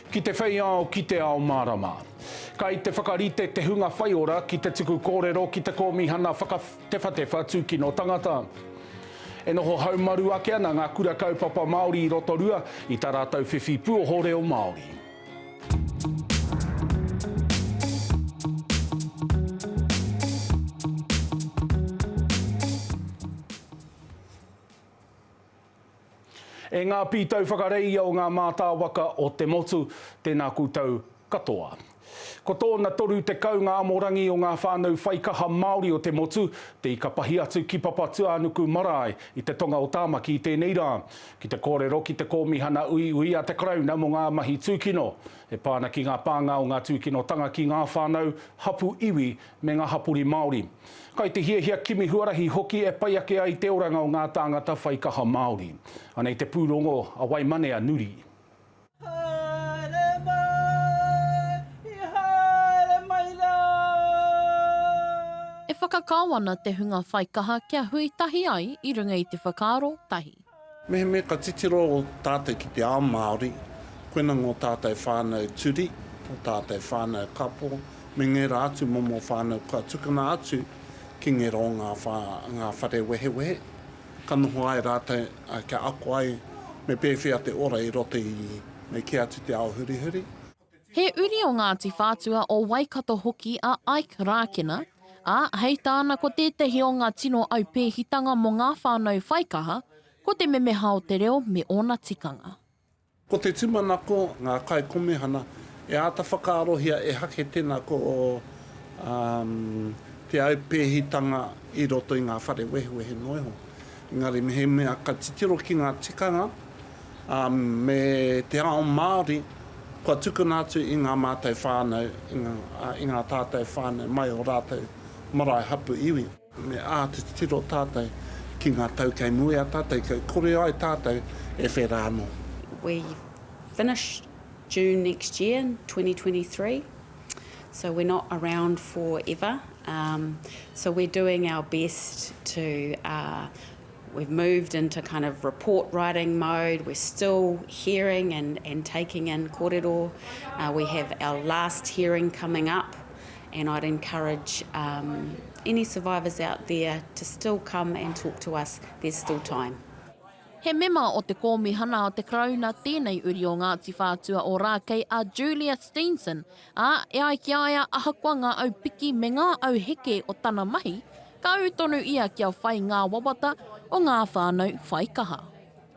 Ki te whei ao, ki te ao mārama. Kai te whakarite te hunga whaiora ki te tuku kōrero ki te Kōmihana Whakatewhatewha Tūkino Tangata. E noho haumaru ake ana ngā kura kaupapa Māori i Rotorua i tā rātou whiwhi puoho reo Māori. E ngā pītau whakareia o ngā mātāwaka o te motu, tēnā koutou katoa. Ko tōna 30 ngā amorangi o ngā whānau whaikaha Māori o te motu, te ika pahi atu ki Papatūānuku marae i te tonga o Tāmaki i tēnei rā. Ki te kōrero ki te Kōmihana Uiui a te Karauna mō ngā mahi tūkino, e pā ana ki ngā pānga o ngā tūkinotanga ki ngā whānau, hapū iwi, me ngā hapori Māori. Kai te hiahia kimi huarahi hoki e pai ake ai te oranga o ngā tāngata whaikaha Māori. Anei te pūrongo a Waimane a Nuri. Haere mai, i haere mai rā. E whakakao ana te hunga whaikaha kia hui tahi ai i runga i te whakaaro tahi. Mehemea ka titiro tātou ki te ao Māori, koina ngō tātou whānau turi, ngō tātou whānau kapo, me ngērā atu momo whānau kua tukuna atu ki ngero ngā whare wehewehe. ka noho ai rātou kia ako ai me pēwhea te ora i roto i me kī atu te ao hurihuri. He uri o Ngāti Whātua o Waikato hoki a Ike Rākena, ā, hei tāna ko tētahi o ngā tino aupēhitanga mō ngā whānau whaikaha, ko te memeha o te reo me ōna tikanga. Ko te tūmanako, ngā kaikomihana, e āta whakaarohia e hake tēnā ko te aupēhitanga i roto i ngā whare wehewehe noa iho. Engari mehemea ka titiro ki ngā tikanga me te ao Māori, kua tukuna atu i ngā mātou whānau, i ngā tātou whānau mai o rātou marae hapu iwi. Me āta titiro tātou ki ngā tau kei mua i a tātou, kia kore ai tātou e whera anō. We finish June next year, 2023, so we're not around forever, so we're doing our best to We've moved into kind of report writing mode, we're still hearing and and taking in korero, we have our last hearing coming up and I'd encourage um any survivors out there to still come and talk to us, there's still time. He mema o te Kōmihana o te Karauna tēnei uri o Ngāti Whātua Ōrākei a Julia Steenson Ā, e ai ki a ia, ahakoa ngā au piki me ngā au heke o tana mahi, ka ū tonu ia kia whai ngā wawata o ngā whānau whai kaha.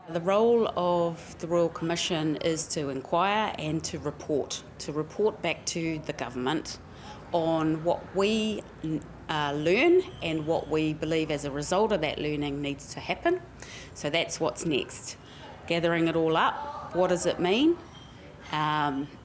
The role of the Royal Commission is to inquire and to report, to report back to the government on what we learn and what we believe as a result of that learning needs to happen. So that's what's next. Gathering it all up, what does it mean?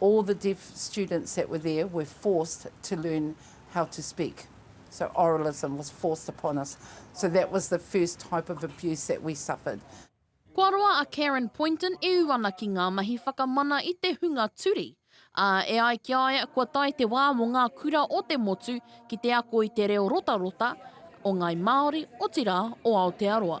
all the deaf students that were there were forced to learn how to speak, so oralism was forced upon us, so that was the first type of abuse that we suffered. Kua roa a Karen Poynton e ū ana ki ngā mahi whakamana i te hunga turi, ā, e ai ki a ia kua tae te wā mō ngā kura o te motu ki te ako i te reo rotarota o Ngāi Māori, otirā, o Aotearoa.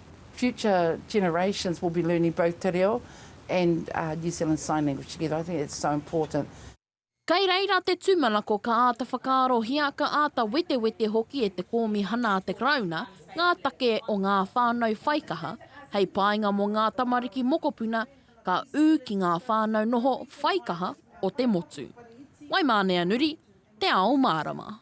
Future generations will be learning both te reo and New Zealand sign language together, I think that's so important. Kei reira te tūmanako ka āta whakaarohia, ka āta wetewete hoki e te Kōmihana a te Karauna ngā take o ngā whānau whaikaha hei painga mō ngā tamariki mokopuna ka ū ki ngā whānau noho whaikaha o te motu. Waimāneanuri. te ao mārama.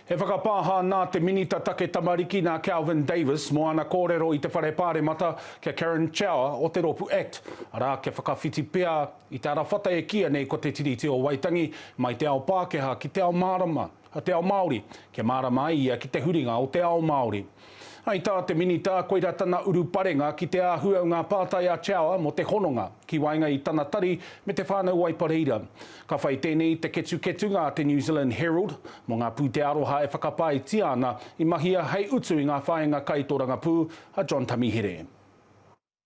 He whakapāha nā te Minita Take Tamariki nā Kelvin Davis mō ana kōrero i te Whare Pāremata ki a Karen Chauer o te rōpū act, arā, kia whakawhiti pea i te arawhata e kīia nei ko Te Tiriti o Waitangi mai te ao Pākehā ki te ao mārama, te ao Māori, kia mārama ai ia ki te huringa o te ao Māori. I tā te Minita, koirā tana uruparenga ki te āhua o ngā pātai a Chawa mō te hononga ki waenga i tana tari me Te Whānau Waipa Reira. Ka whai tēnei i te ketuketunga a te New Zealand Herald mō ngā pūtea aroha e whakapaetia ana i mahia hei utu i ngā whāinga kai tōrangapū a John Tamihere.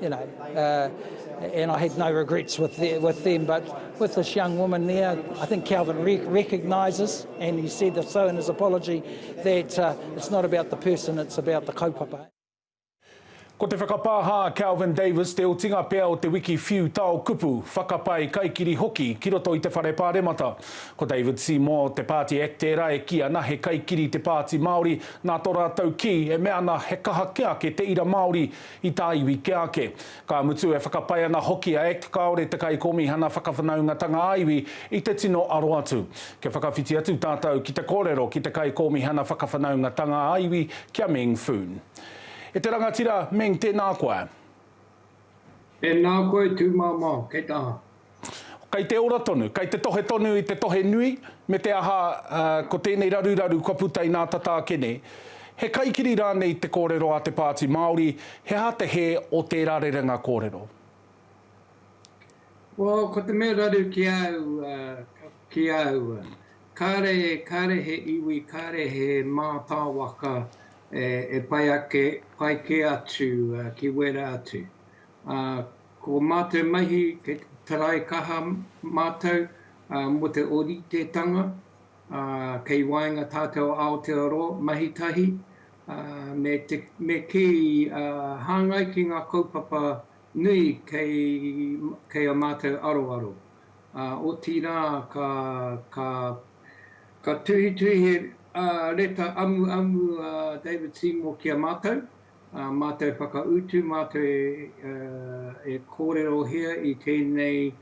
You know, uh, and I had no regrets with, the, with them, but with this young woman there, I think Calvin re recognises, and he said this so in his apology, that uh, it's not about the person, it's about the kaupapa. Ko te whakapāha a Calvin Davis te otinga pea o te wiki whiu tao kupu, whakapae kaikiri hoki ki roto i te whare pāremata. Ko David Seymour, te Party Act tērā e kī ana he kaikiri te Pāti Māori, nā tō rātou kī e mea ana he kaha kia ake te ira Māori I tā iwi kia ake. Ka mutu e whakapae ana hoki a act kāore te Kaikōmihana Whakawhanaungatanga ā-Iwi i te tino aro atu. Kia whakawhiti atu tātou ki te kōrero ki te Kaikōmihana Whakawhanaungatanga ā-Iwi ki a Meng Foon. E te rangatira Meng tēnā koe. E nā koe tū māmā, kei taha. Kei te ora tonu, kei te tohe tonu i te tohe nui, me te aha, ko tēnei raruraru kua puta inā tata ake nei. He kaikiri rānei te kōrero a te Pāti Māori, he aha te hē o tērā rerenga kōrero? Well, ko te mea raru ki a au, ki a au, kāre, kāre he iwi, kāre he mātāwaka e pai ake, pai kē atu ki wērā atu. Ko mā te mahi he tarai kaha mātou mō te oritetanga kei waenga tātou Aotearoa mahi tahi me kī hāngai ki ngā kaupapa nui kei a mātou aroaro. Otirā ka tuhituhi he reta amuamu a David Seymour ki a mātou. Ā mātou whakautu, mātou e kōrerohia i tēnei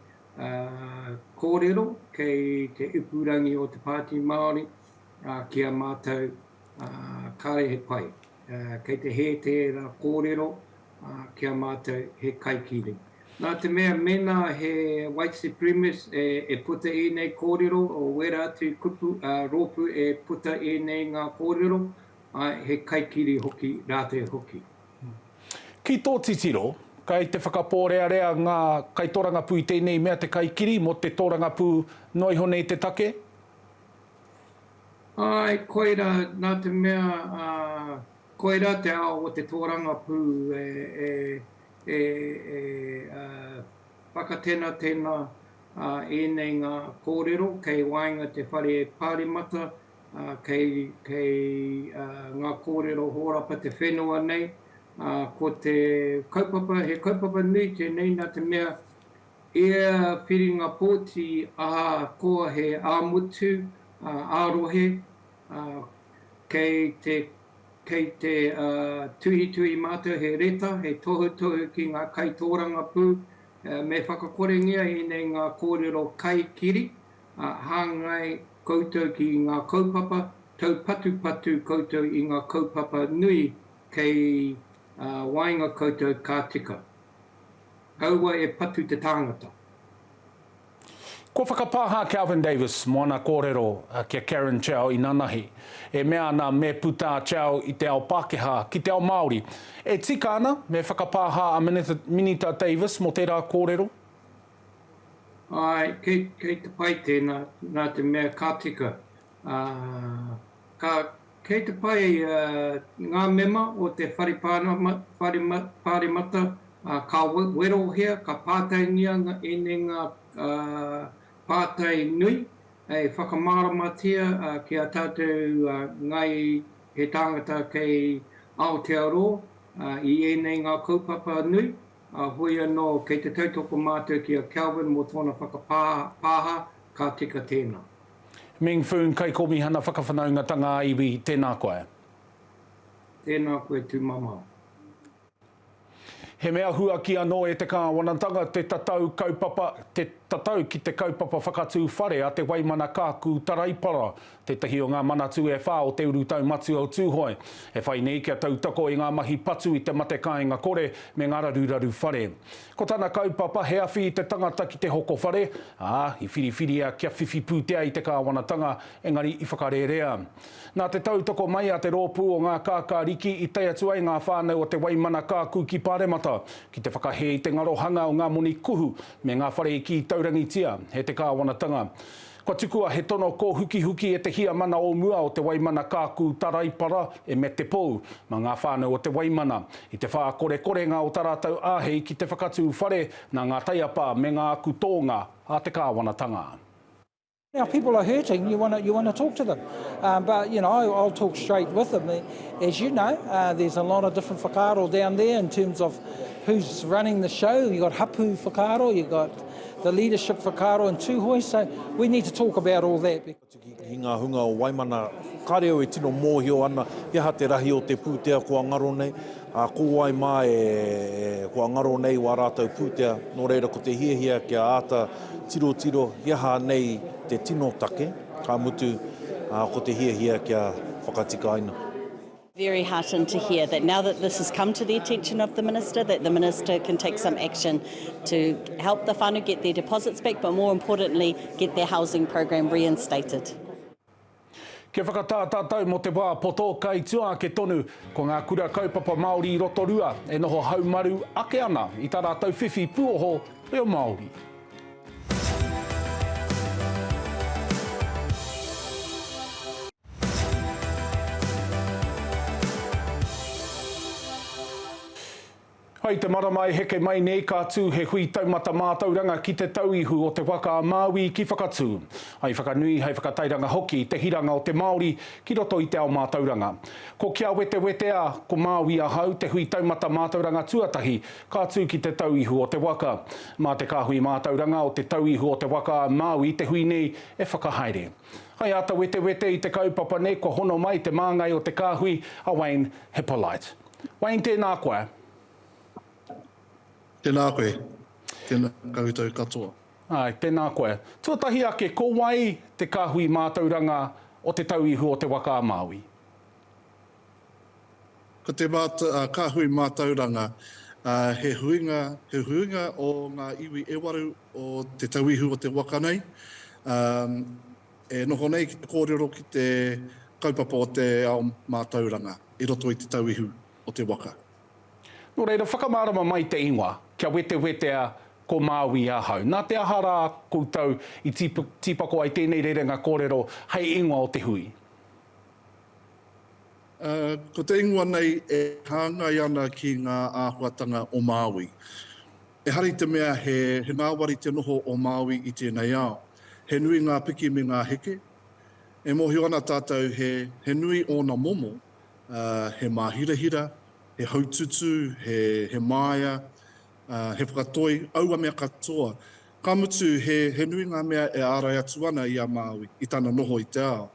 kōrero kei te ipurangi o te Pāti Māori ki a mātou, kāre he pai. Kei te hē tērā kōrero ki a mātou he kaikiri. Nā te mea mēnā he white supremacist e puta ēnei kōrero, wērā atu kupu, rōpū e puta ēnei ngā kōrero, Ae, he kaikiri hoki ra te hoki. Ki tō titiro, kai te whakapōrearea ngā kaitōrangapū i tēnei mea te kaikiri mō te tōrangapū noa iho nei te take? Ae, koira, nā te mea koira te ao o te tōrangapū e whakatenatena ēnei ngā kōrero kei waenga te whare pāremata Kei ngā kōrero hōrapa te whenua nei, ko te kaupapa, he kaupapa nui tēnei nā te mea i ia whiringa pōti ahakoa he ā-motu, ā-rohe, kei te tuhituhi mātou he reta, he tohutohu ki ngā kaitōrangapū me whakakorengia ēnei ngā kōrero kaikiri. ā, hāngai koutou ki ngā kaupapa, taupatupatu koutou i ngā kaupapa nui kei waenga koutou ka tika. Kaua e patu te tāngata. Kua whakapāha a Kelvin Davis mō ana kōrero ki a Karen Tjau inanahi e mea ana me puta a Tjau i te ao Pākehā ki te ao Māori. E tika ana me whakapāha a Minita Davis mō tērā kōrero? Āe, kei te pai tēnā, nā te mea ka tika. Kei te pai ngā mema o te Whare Pāremata, ka werohia, ka pātaingia ēnei ngā pātai nui, e whakamāramatia ki a tātou ngai he tāngata kei Aotearoa i ēnei ngā kaupapa nui. Ā, heoi anō, kei te tautoko mātou ki a Kelvin mō tōna whakapāha, ka tika tēnā. Ming Foon, Kaikōmihana Whakawhanaungatanga ā-Iwi, tēnā koe. Tēnā koe tūmamao. He mea huaki anō e te Kāwanatanga te tatau kaupapa, te tatau ki te kaupapa whakatū whare a Te Waimana Kaaku Taraipara Tētahi o ngā Manatū e whā o te urutau matua o Tūhoe, e whai nei kia tautoko i ngā mahi patu i te mate kāinga kore me ngā raruraru whare. Ko tana kaupapa he awhi i te tangata ki te hoko whare, ā, i whiriwhiria kia whiwhi pūtea i te kāwanatanga, engari i whakarērea. Nā te tautoko mai a te rōpū o ngā kākāriki i tae atu ai ngā whānau o Te Waimana Kaaku ki Pāremata ki te whakahē i te ngarohanga o ngā moni kuhu me ngā whare i kī taurangitia e te kāwanatanga Kua tukua he tono kōhukihuki e te Hiamana o mua o Te Waimana Kākū Taraipara, e Mete Pou, mā ngā whānau o Te Waimana. I te whākorekorenga o tā rātou āhei ki te whakatū whare, nā ngā taiapa me ngā aku tōnga a te kāwanatanga. Our people are hurting, you wanna, you wanna talk to them. Um, but, you know, I'll talk straight with them. As you know, uh, there's a lot of different whakaaro down there in terms of who's running the show. You've got hapū whakaaro, you've got. the leadership whakaaro in Tūhoe, so we need to talk about all that. Ki ngā hunga o Waimana, kāre au e tino mōhio ana he aha te rahi o te pūtea kua ngaro nei, ā, ko wai mā e kua ngaro nei wā rātou pūtea, nō reira ko te hiahia kia āta tirotiro he aha nei te tino take, ka mutu, ā, ko te hiahia kia whakatikaina. Very heartened to hear that now that this has come to the attention of the Minister, that the Minister can take some action to help the whānau get their deposits back, but more importantly, get their housing program reinstated. Kia whakatā tātou mō te wā poto, kai tua ake tonu, ko ngā kura kaupapa Māori i Rotorua e noho haumaru ake ana i tā rātou whiwhi puoho reo Māori. Hai te marama e heke mai nei ka tū he hui taumata mātauranga ki te tau ihu o te waka a Māui ki Whakatū. Hai whakanui, hai whakatairanga hoki te hiranga o te Māori ki roto i te ao mātauranga. Ko Kia Wetewetea, ko Māui Ahau te hui taumata mātauranga tuatahi ka tū ki te tau ihu o te waka. Mā te kāhui mātauranga o te tau ihu o te waka a Māui te hui nei e whakahaere. Hei āta wetewete i te kaupapa nei kua hono mai te māngai o te kāhui a Wayne Hippolite. Wayne, tēnā koe. Tēnā koe. Tēnā koutou katoa. Āe, tēnā koe. Tuatahi ake, ko wai te kāhui mātauranga o Te Tauihu o Te Waka-a-Māui? Ko te Kāhui Mātauranga he huinga, he huinga o ngā iwi e waru o Te Tauihu o te waka nei, e noho nei ki te kōrero ki te kaupapa o te ao mātauranga i roto i Te Tauihu o te waka. Nō reira, whakamārama mai te ingoa, kia wetewetea ko Māui ahau. Nā te aha rā koutou i tīpako ai tēnei rerenga kōrero hei ingoa o te hui? Ko te ingoa nei e hāngai ana ki ngā āhuatanga o Māui. Ehara i te mea he ngāwari te noho o Māui i tēnei ao. He nui ngā piki me ngā heke. E mōhio ana tātou he nui ōna momo, he māhirahira, he haututū, he māia, he whakatoi, aua mea katoa. Ka mutu, he nui ngā mea e ārai atu ana i a Māui i tana noho i te ao.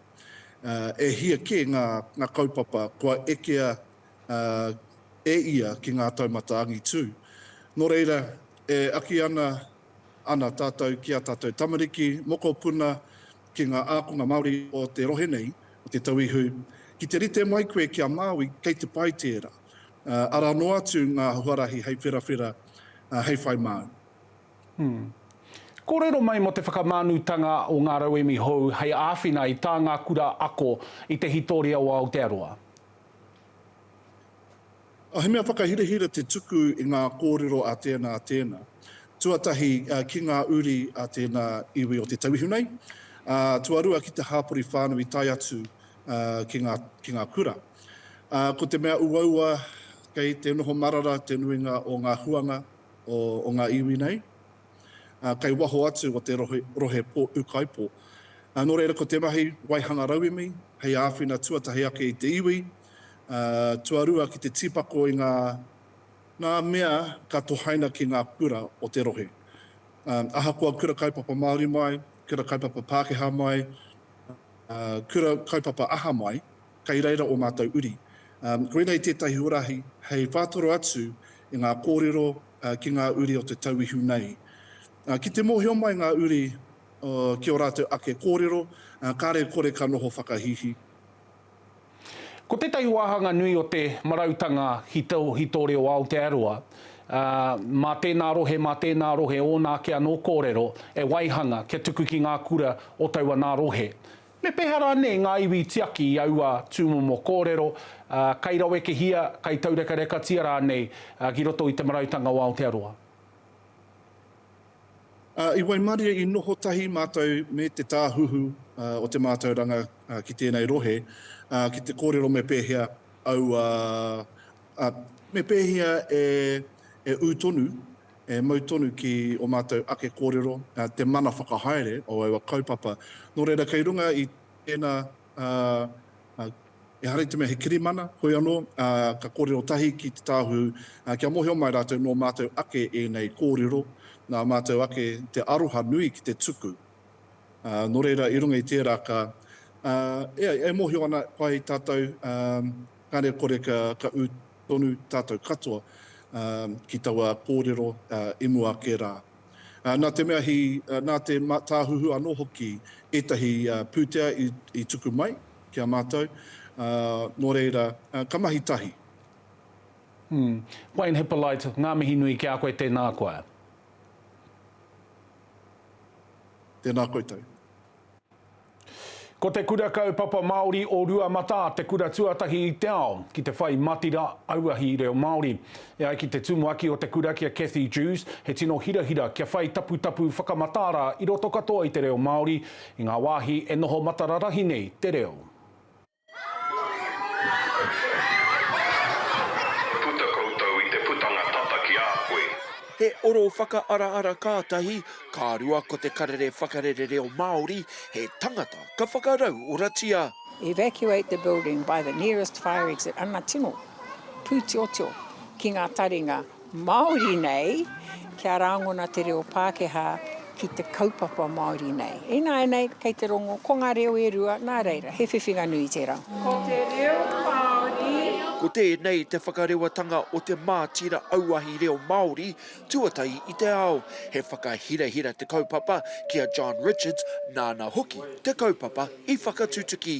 E hia kē ngā kaupapa kua ekea e ia ki ngā taumata angitū. Nō reira, e aki ana ana tātou ki ā tātou tamariki, mokopuna, ki ngā ākonga Māori o te rohe nei, o te tauihu, ki te rite mai koe ki a Māui, kei te pai tērā. Arā noa atu ngā huarahi hei wherawhera, hei whai māu. Kōrero mai mō te whakamānutanga o ngā rauemi hou hei āwhina i tā ngā kura ako i te hītoria o Aotearoa. He mea whakahirahira te tuku i ngā kōrero a tēnā, a tēnā, tuatahi ki ngā uri a tēnā iwi o te tauihu nei, ā, tuarua ki te hāpori whānau i tae atu ki ngā, ki ngā kura. Ko te mea uaua, kei te noho marara te nuinga o ngā huanga. o ngā iwi nei, kei waho atu o te rohe Pō Ūkaipō. Nō reira ko te mahi waihanga rauemi hei āwhina tuatahi ake i te iwi, tuarua ki te tīpako i ngā mea ka tohaina ki ngā kura o te rohe. Ahakoa kura kaupapa Māori mai, kura kaupapa Pākehā mai, kura kaupapa aha mai, Kei reira ō mātou uri. Koinei tētahi huarahi hei whātoro atu i ngā kōrero ki ngā uri o te tauihu nei. Ki te mōhio mai ngā uri ki ō rātou ake kōrero, kāre kore ka noho whakahīhī. Ko tētahi wāhanga nui o te marautanga ki tō reo Aotearoa, mā tēnā rohe, mā tēnā rohe ōna ake anō kōrero e waihanga kia tuku ki ngā kura o taua nā rohe. Me pēhea rānei ngā iwi tiaki i aua tūmomo kōrero, ā, kai rawekehia, kai taurekarekatia rānei ki roto i Te Marautanga o Aotearoa? I waimarie i noho tahi mātou me Te Tāhuhu o te Mātauranga ki tēnei rohe, ā, ki te kōrero me pēhea aua, ā, me pēhea e ū tonu E mau tonu ki o mātou ake kōrero te mana whakahaere o aua kaupapa. Nō reira, kei runga i tēnā, ehara i te mea he kirimana, hoi anō, ka kōrero tahi ki te Tāhuhu, kia mōhio mai rātou nō mātou ake ēnei kōrero, nā mātou ake te aroha nui ki te tuku. Nō reira, i runga i tērā ka, ē, e mōhio ana, pai tātou, kāre kore ka ū. Tonu tātou katoa ki taua kōrero i mua ake rā. Nā te mea he, nā te tāhuhu anō hoki ētahi pūtea i tuku mai ki a mātou, nō reira, ka mahi tahi. Wayne Hippolite, ngā mihi nui ki a koe, tēnā koe. Tēnā koutou. Ko te Kura Kaupapa Māori o Ruamatā te kura tuatahi i te ao ki te whai matira auahi reo Māori. E ai ki te tumuaki o te kura ki a Cathy Dewes, he tino hirahira kia whai taputapu whakamataara i roto katoa i te reo Māori i ngā wāhi e noho matararahi nei te reo. Puta koutou i te putanga tata ki a koe. He oro whakaaraara kātahi, ka rua ko te karere whakarere reo Māori, he tangata ka whakarauoratia. Evacuate the building by the nearest fire exit, ana tino pūtiotio ki ngā taringa. Māori nei, kia rāngona te reo Pākehā ki te kaupapa Māori nei. Ināianei, kei te rongo, ko ngā reo e rua, nā reira, he whiwhinga nui tērā. Ko te reo Māori. Ko tēnei te whakarewatanga o te mātira auahi reo Māori tuatahi i te ao. He whakahirahira te kaupapa ki a John Richards, nāna hoki te kaupapa i whakatutuki.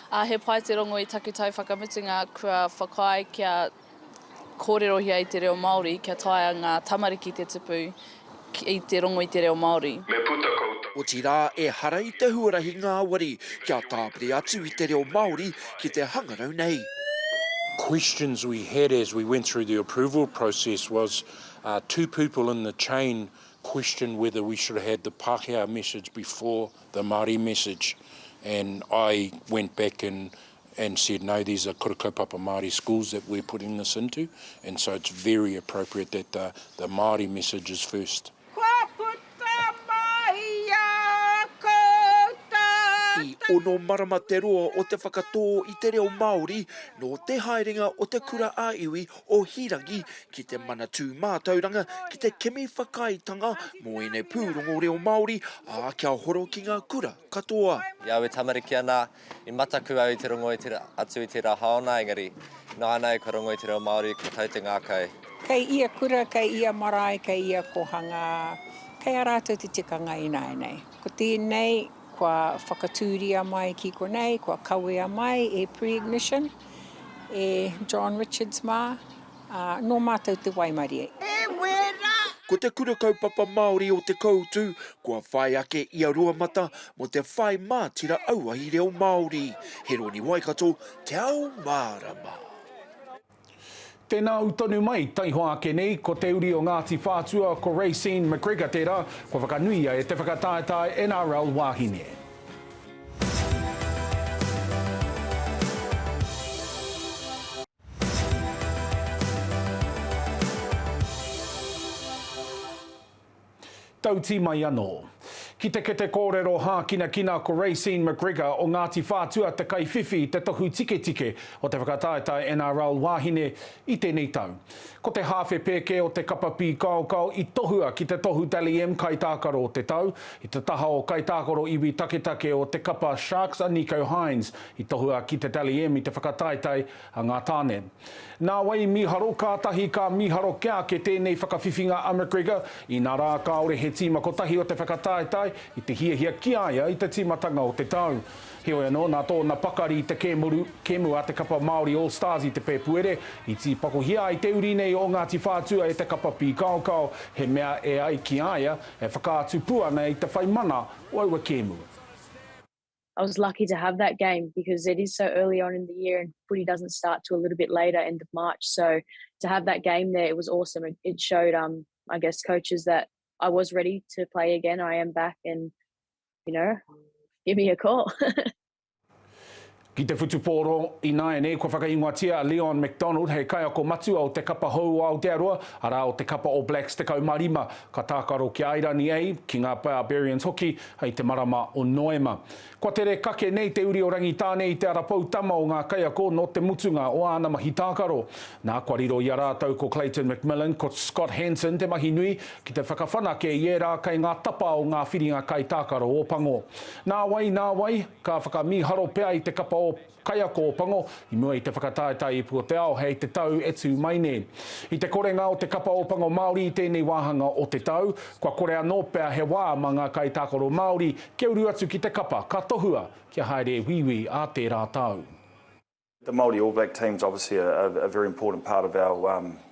Ā, he pai te rongo i taku tau whakamutunga kua whakaae kia kōrerohia i te reo Māori, kia taea ngā tamariki te tupu i te rongo i te reo Māori. Me puta koutou. Otirā, ehara i te huarahi ngāwari kia tāpiri atu i te reo Māori ki te hangarau nei. Questions we had as we went through the approval process was two people in the chain questioned whether we should have had the Pākehā message before the Māori message and I went back and and said no these are kura kaupapa Māori schools that we're putting this into and so it's very appropriate that the the Māori message is first. Kua puta mai a koutou. I ono marama te roa o te whakatō i te reo Māori nō te haerenga o te kura ā-iwi o Hīrangi ki te Manatū Mātauranga ki te kimi whakaaetanga mō ēnei pūrongo reo Māori, ā, kia horo ki ngā kura katoa. I aua tamariki anā, i mataku au i te rongo atu i tērā haona, engari, nānai kua rongo i te reo Māori, kua tau te ngākau. Kei ia kura, kei ia marae, kei ia kōhangā, kei a rātou te tikanga ināianei. Ko tēnei. Kua whakatūria mai ki konei, kua kawea mai e Pre-Ignition, e John Richards mā, ā, nō mātou te waimarie. He wera! Ko te Kura Kaupapa Māori o Te Koutu kua whai ake i a Ruamata mō te whai mātira auahi reo Māori. Heroni Waikato, Te Ao Mārama. Tēnā au tonu mai, taihoa ake nei, ko te uri o Ngāti Whātua, ko Racine McGregor tērā, kua whakanuia e te whakataetae NRL Wāhine. Tauti mai anō. Ki te kete kōrero hākinakina ko Racine McGregor o Ngāti Whātua te kaiwhiwhi i te tohu tiketike o te whakataetae NRL Wāhine i tēnei tau. Ko te hāwhe pēke o te kapa pīkaokao i tohua ki te tohu Dally M Kaitākaro o te Tau, i te taha o Kaitākaro Iwi Taketake o te kapa Sharks a Nicho Hynes i tohua ki te Dally M i te whakataetae A ngā tāne. Nā wai mīharo kātahi ka mīharo kia ake tēnei whakawhiwhinga a McGregor, inā rā kāore he tīma kotahi o te whakataetae i te hiahia ki a ia i te tīmatanga o te tau. Heoi anō, nā tōna pakari i te kēmuru, kēmu a te kapa Māori All Stars i te Pēpuere, i tīpakohia ai te uri nei o Ngāti Whātua e te kapa pīkaokao, he mea e ai ki a ia, e whakaatu pū ana i te whai mana o aua kēmu. I was lucky to have that game because it is so early on in the year and footy doesn't start to a little bit later, end of March. So to have that game there, it was awesome. It, it showed, um, I guess, coaches that I was ready to play again. I am back, and you know, give me a call. Ki te whutupōro, ināianei kua whakaingoatia a Leon McDonald hei kaiako matua o te kapa hou o Aotearoa, arā o te kapa All Blacks 15, ka tākaro ki a Airani A, ki ngā Barbarians hoki, Hei te marama o Noema. Kua tere kake nei te uri o Rangitāne i te ara poutama o ngā kaiako nō te mutunga o āna mahi tākaro. Nā, kua riro i a rātou ko Clayton McMillan, ko Scott Hanson te mahi nui ki te whakawhanake i ērā kei ngā tapa o ngā whiringa kaitākaro Ōpango. Nāwai, nāwai, ka whakamīharo pea i te kapa o. Kaiako o Pango, i mua i te whakataetae ipu o te ao hei te tau e tū mai nei. I te korenga o te kapa o Pango Māori i tēnei wāhanga o te tau, kua kore anō pea he wā mā ngā kaitākaro Māori kia uru atu ki te kapa, ka tohua kia haere e wīwī ā tērā tau. The Māori All Black team's obviously a very important part of our.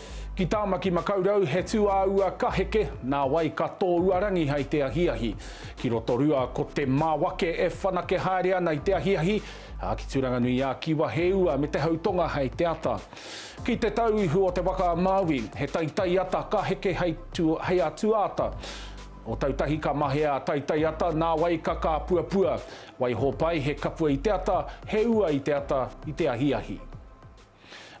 Ki Tāmaki Makaurau he tūāua ka heke, nā wai ka tōuarangi hei te ahiahi. Ki Rotorua ko te māwake e whanake haere ana i te ahiahi, ā, ki Turanganui-ā-Kiwa he ua me te hautonga hei te ata. Ki te tau ihu o te waka a Māui, he taitai ata ka heke hei hei a tuaata. O tautahi ka mahea a taitai ata, nā wai ka kāpuapua. Waihopai he kapua i te ata, he ua i te ata, i te ahiahi.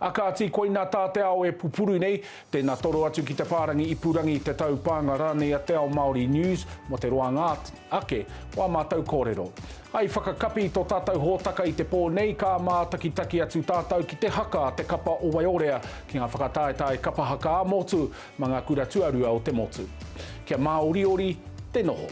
A kāti, koina tā te ao e pupuru nei, tēnā toro atu ki te whārangi ipurangi, te taupānga rānei a Te Ao Māori News mō te roanga ake o ā mātou kōrero. I whakakapi tō tātou hōtaka i te pō nei, ka mātakitaki atu tātou ki te haka a te kapa o Waiorea ki ngā whakataetae kapa haka ā-motu mā ngā kura tuarua o te motu. Kia māoriori te noho.